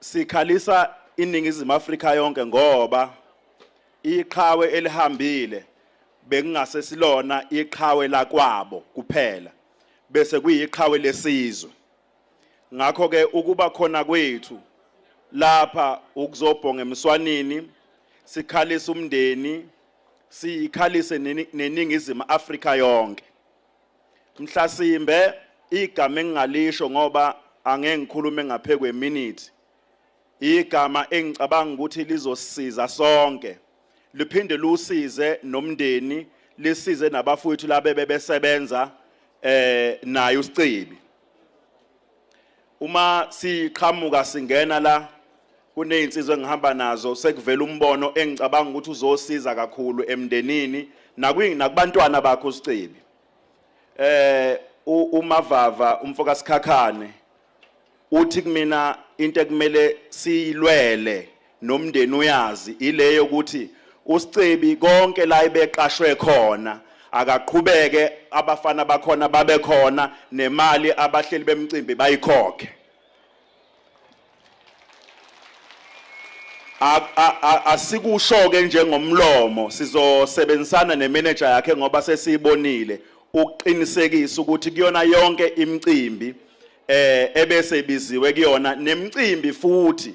Sikhalisa iNingizimu Afrika yonke ngoba iqhawe elihambile bekungase silona iqhawe lakwabo kuphela bese kuyiqhawe lesizwe ngakho ke ukuba khona kwethu lapha ukuzobhonga emswanini sikhalisa umndeni sikhalise neningizimu Afrika yonke Mhlasimbe igama engingalisho ngoba angeke ngikhulume ngaphe kweminithi. Igama engicabanga ukuthi lizosiza sonke. Liphinde lusize nomndeni, lisize nabafowethu labe bebesebenza eh naye uSicibi. Uma siqhamuka singena la kunezinsizwa engihamba nazo sekuvela umbono engicabanga ukuthi uzosiza kakhulu emndenini nakwini nakubantwana bakho usicebi. Eh umavava umfoka sikhakhane uthi kumina into ekumele siyilwele nomndeni uyazi ile yokuthi uScebi konke la ibeqashwe khona akaqhubeke abafana bakhona babe khona nemali abahleli bemcimbi bayikhokhe asikusho ke njengomlomo sizosebenzisana nemanager yakhe ngoba sesiyibonile ukuqinisekisa ukuthi kuyona yonke imicimbi eh ebese ibiziwe kuyona nemicimbi futhi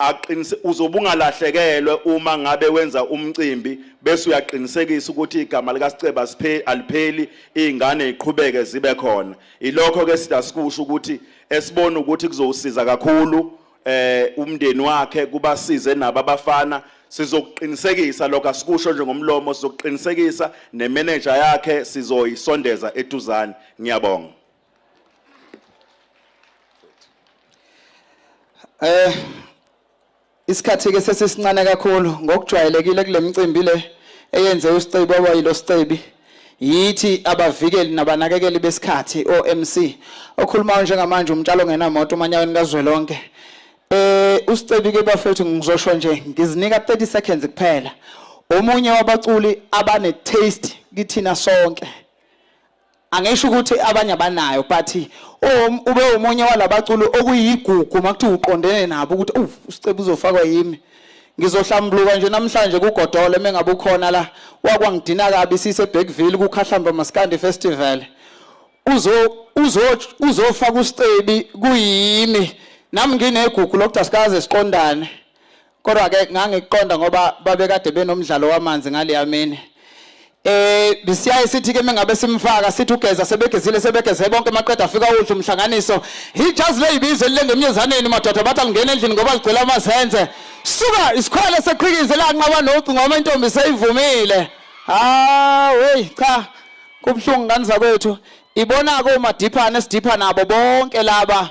aqinise uzobe ungalahlekelwe uma ngabe wenza umcimbi bese uyaqinisekisa ukuthi igama likaSiceba siphe alipheli izingane ziqhubeke zibe khona ilokho ke sida sikusho ukuthi esibona ukuthi kuzowusiza kakhulu eh umndeni wakhe kubasize nabo abafana sizokuqinisekisa lokho asikusho nje ngomlomo sizokuqinisekisa nemanager yakhe sizoyisondeza eduzane ngiyabonga Eh isikhathi ke sesisincane kakhulu ngokujwayelekile kulemicimbi le eyenze uSicebi obayilo Sicebi yithi abavikeli nabanakekeli besikhathi OMC okhulumayo njengamanje umtshalo ngenamoto umanyaweni kazwelonke eh uSicebi ke bafethu ngizosho nje ngizinika 30 seconds kuphela omunye wabaculi abane taste kithina sonke angisho ukuthi abanye abanayo but um, ube umunye walabaculi okuyigugu makuthiwa uqondene nabo ukuthi uv usiceba uzofakwa yimi ngizohlambuluka nje namhlanje kugodole mengabe ukhona la wakwangidina kabi sise Bergville kukhahlamba maskandi festival uzo uzo uzofaka usicebi kuyimi nami nginegugu lokuthi asikaze siqondane kodwa ke ngangikuqonda ngoba babekade benomdlalo wamanzi ngaleya mini eh bisiyaye sithi ke mengabe simfaka sithi ugeza sebegezile sebegeze bonke maqeda afika udla umhlanganiso ijazi leyibizo lilengemnyezaneni madoda bathi alingena endlini ngoba ligcwele amazenze suka isikhwele seqhikize lanqaba nocu ngoba intombi seyivumile ah hey cha kubuhlungu ngani zakwethu ibona ko madiphana esidipha nabo bonke laba